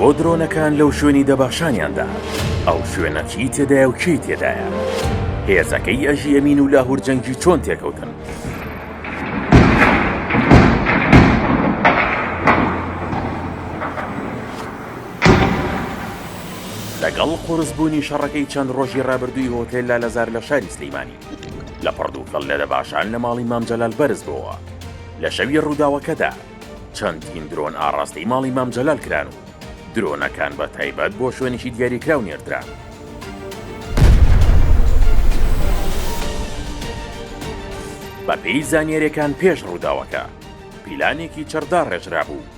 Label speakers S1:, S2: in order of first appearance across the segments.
S1: بۆ درۆنەکان لەو شوێنی دەباشانیاندا ئەو شوێنە چی تێدایە و کێی تێدایە هێزەکەی ئەژی ئەمین و لاهور جەنگی چۆن تێکەوتن لەگەڵ قورسبوونی شەڕەکەی چەند ڕۆژی ڕابردووی هۆتێل لا لەزار لە شاری سلیمانی لە پڕدووکەڵ لە دەباشان لە ماڵی مامجلال بەرز بووە لە شەوی ڕووداوەکەدا چەندین درۆن ئاڕاستەی ماڵی مام جەلال کران و درۆنەکان بە تایبەت بۆ شوێنێکی دیاریکراو نێردران. بەپێی زانیاریەکان پێش ڕووداوەکە پیلانێکی چڕدا ڕێژرا بوو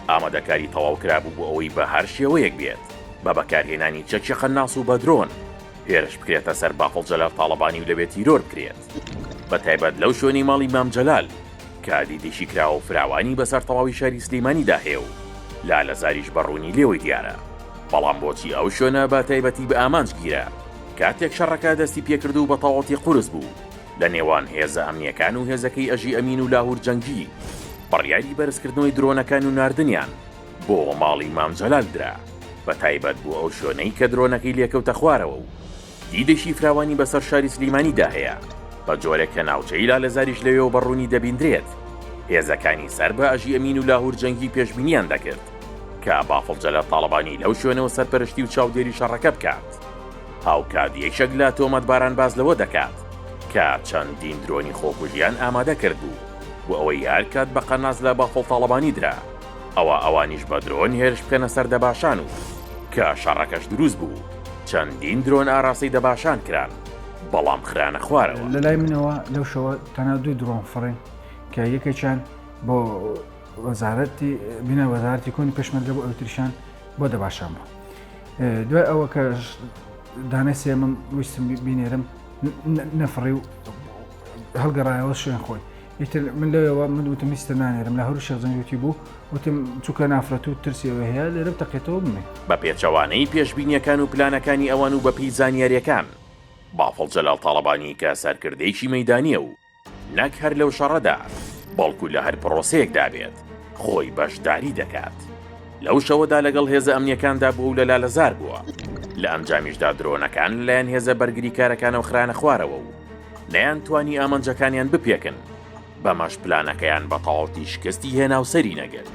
S1: ئامادەکاری تەواو کرابوو بۆ ئەوەی بە هەر شێوەیەک بێت بە بەکارهێنانی چەکی قەناس و بەدرۆن هێرش بکرێتە سەر بافڵ جەلال تاڵەبانی و لەوێ تیرۆر بکرێت بە تایبەت لەو شوێنی ماڵی مام جەلال کە دیدێکی کراوە و فراوانی بەسەر تەواوی شاری سلیمانیدا هەیە و لالەزاریش بە ڕوونی لێوەی دیارە، بەڵام بۆچی ئەو شوێنە بە تایبەتی بە ئامانج گیرا کاتێک شەڕەکە دەستی پێکرد و بەتەواوەتی قورس بوو لە نێوان هێزە ئەمنییەکان و هێزەکەی ئەژی ئەمین و لاهور جەنگی بڕیاری بەرزکردنەوەی درۆنەکان و ناردنیان بۆ ماڵی مام جەلال درا بە تایبەت بۆ ئەو شوێنەی کە درۆنەکەی لێکەوتە خوارەوە و دیدێکی فراوانی بەسەر شاری سلیمانی دا هەیە، بە جۆرێک کە ناوچەی لالەزاریش لەوێوە بە ڕوونی دەبیندرێت. هێزەکانی سەر بە ئەژی ئەمین و لاهور جەنگی پێشبینیان دەکرد کە بافڵ جەلال تاڵەبانی لەو شوێنەوە سەرپەرشتی و چاودێری شەڕەکە بکات. هاوکات یەکێک لە تۆمەتباران باس لەوە دەکات کە چەندین درۆنی خۆکوژیان ئامادە کردبوو بۆ ئەوەی هەر کات بە قەناس لە بافڵ تاڵەبانی درا، ئەوا ئەوانیش بە درۆن هێرش بکەنە سەر دەباشان و کە شەڕەکەش دروست بوو چەندین درۆن ئاراستەی دەباشان کران بەڵام خرانە خوارەوە. لە لای منەوە لەو
S2: شەوە تەنها دوو درۆن فڕین کە یەکێکیان بۆ وەزارەتی بینای وەزارەتی کۆنی پێشمەرگە بۆ ئەوتریشان بۆ دەباشان بوو دوای ئەوە کە دانای سێمم ویستم بینێرم نەفڕی و هەڵگەڕایەوە شوێن خۆی ئیتر من لەوێوە من وتم هیچتر نانێرم لە هەرو شێخ جەنگوتی بوو وتم چونکە نافرەت و ترسی ئەوێ هەیە لێرە بتەقێتەوە بمێ. بە پێچەوانەی
S1: پێشبینیەکان و پلانەکانی ئەوان و بەپێی زانیاریەکان بافڵ جەلال تاڵەبانی کە سەرکردەیەکی مەیدانیە و نەک هەر لەو شەڕەدا بەڵکو لە هەر پرۆسەیەکدا بێت خۆی بەشداری دەکات لەو شەوەدا لەگەڵ هێزە ئەمنیەکاندا بووە و لە لالەزار بووە لە ئەنجامیشدا درۆنەکان لەلایەن هێزە بەرگریکارەکانەوە خرایەنە خوارەوە و نەیانتوانی ئامانجەکانیان بپێکن بەمەش پلانەکەیان بە تەواوتی شکستی هێنا و سەری نەگرت.